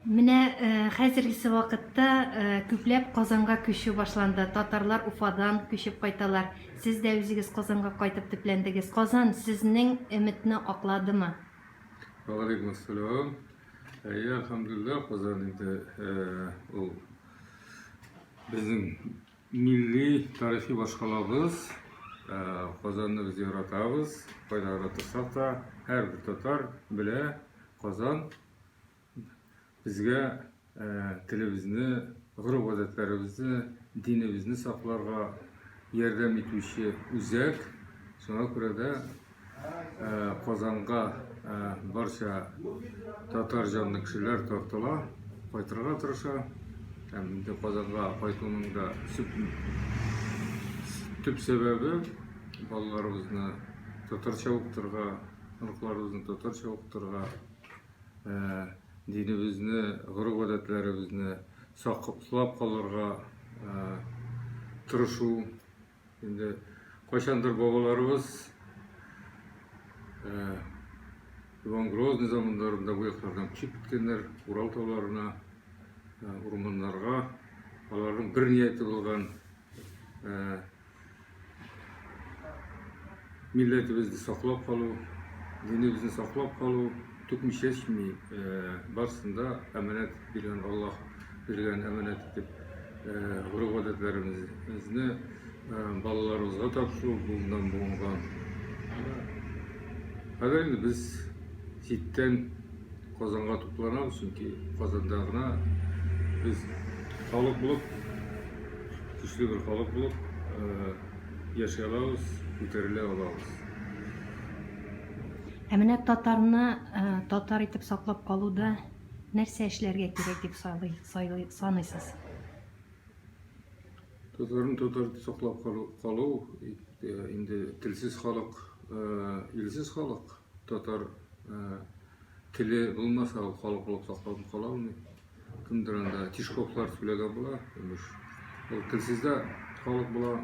Менә хәзергесе вакытта күпләп Казанга күчү башланды. Татарлар Уфадан күчеп кайталар. Сез дә үзегез Казанга кайтып төпләндегез. Казан сезнең өметне акладымы? Вәгаләйкүм әссәлам. Әйе, әлхәмдүлилләһ, Казан инде ул безнең милли тарихи башкалабыз. Казанны без яратабыз. Кайда гына торсак та, һәрбер татар белә, Казан Безгә телебезне, гореф-гадәтләребезне, динебезне сакларга ярдәм итүче үзәк. Шуңа күрә дә Казанга барча татар җанлы кешеләр тартыла, кайтырга тырыша. Һәм инде Казанга кайтуның да төп сәбәбе балаларыбызны татарча укытырга, оныкларыбызны татарча укытырга. динебезне, гореф-гадәтләребезне саклап калырга тырышу. Инде кайчандыр бабаларыбыз Иван Грозный замандарында бу яклардан күчеп киткәннәр, Урал тауларына, урманнарга. Аларның бер нияте булган милләтебезне саклап калу, динебезне саклап калу түкми чәчми, э, барысын да әманәт биргән Аллаһ биргән әманәт итеп э, гореф-гадәтләребезне э, балаларыбызга тапшыру бүгеннән бүгенга. Хәзер инде без читтән Казанга тупланабыз, чөнки Казанда гына без халык булып, көчле бер халык булып яши алабыз, күтәрелә алабыз. Ә менә татарны татар итеп саклап калуда нәрсә эшләргә кирәк дип саныйсыз? Татарны татар итеп саклап калу инде телсез халык, илсез халык. татар э, теле булмаса, ул халык булып сакланып кала алмый. Кемдер анда Тишковлар сөйләгән була, имеш. Ул телсез дә халык була.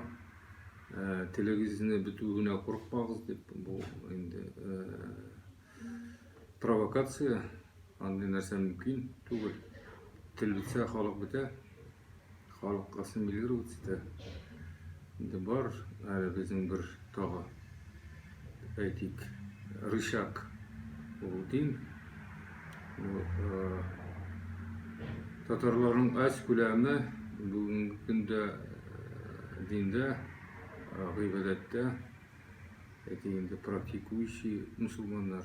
Э, телегезне бетүенә курыкмагыз дип, бу инде э, провокация, андый нәрсә мөмкин түгел. Тел бетсә, халык бетә. Халык ассимилироваться итә. Инде бар әле безнең бер тагы, дип әйтик, рычаг ул дин. Татарларның аз күләме бүгенге көндә диндә, гыйбадәттә, әйтик инде практикующий мусулманнар.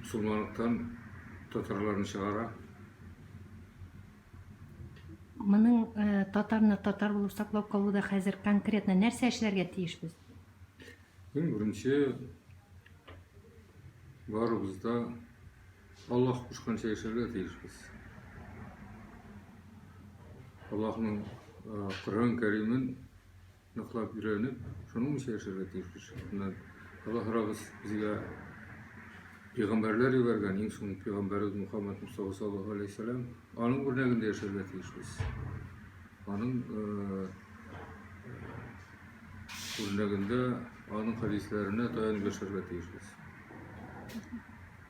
Мусулманлыктан татарларны чыгара. Моның э, татарны татар булып саклап калуда хәзер конкретно нәрсә эшләргә тиешбез? Иң беренче барыбыз да Аллаһ кушканча яшәргә тиешбез. Аллаһның э, Коръән Кәримен Яклап, өйрәнеп, шуның буенча яшәргә тиеш кеше. Менә Аллаһыбыз безгә пәйгамбәрләр җибәргән, иң соңгы пәйгамбәребез Мухаммад Мустафа саллаллаһу алейһи вәсәләм. Аның үрнәгендә яшәргә тиешбез. Аның э, үрнәгендә, аның хәдисләренә таянып яшәргә тиешбез.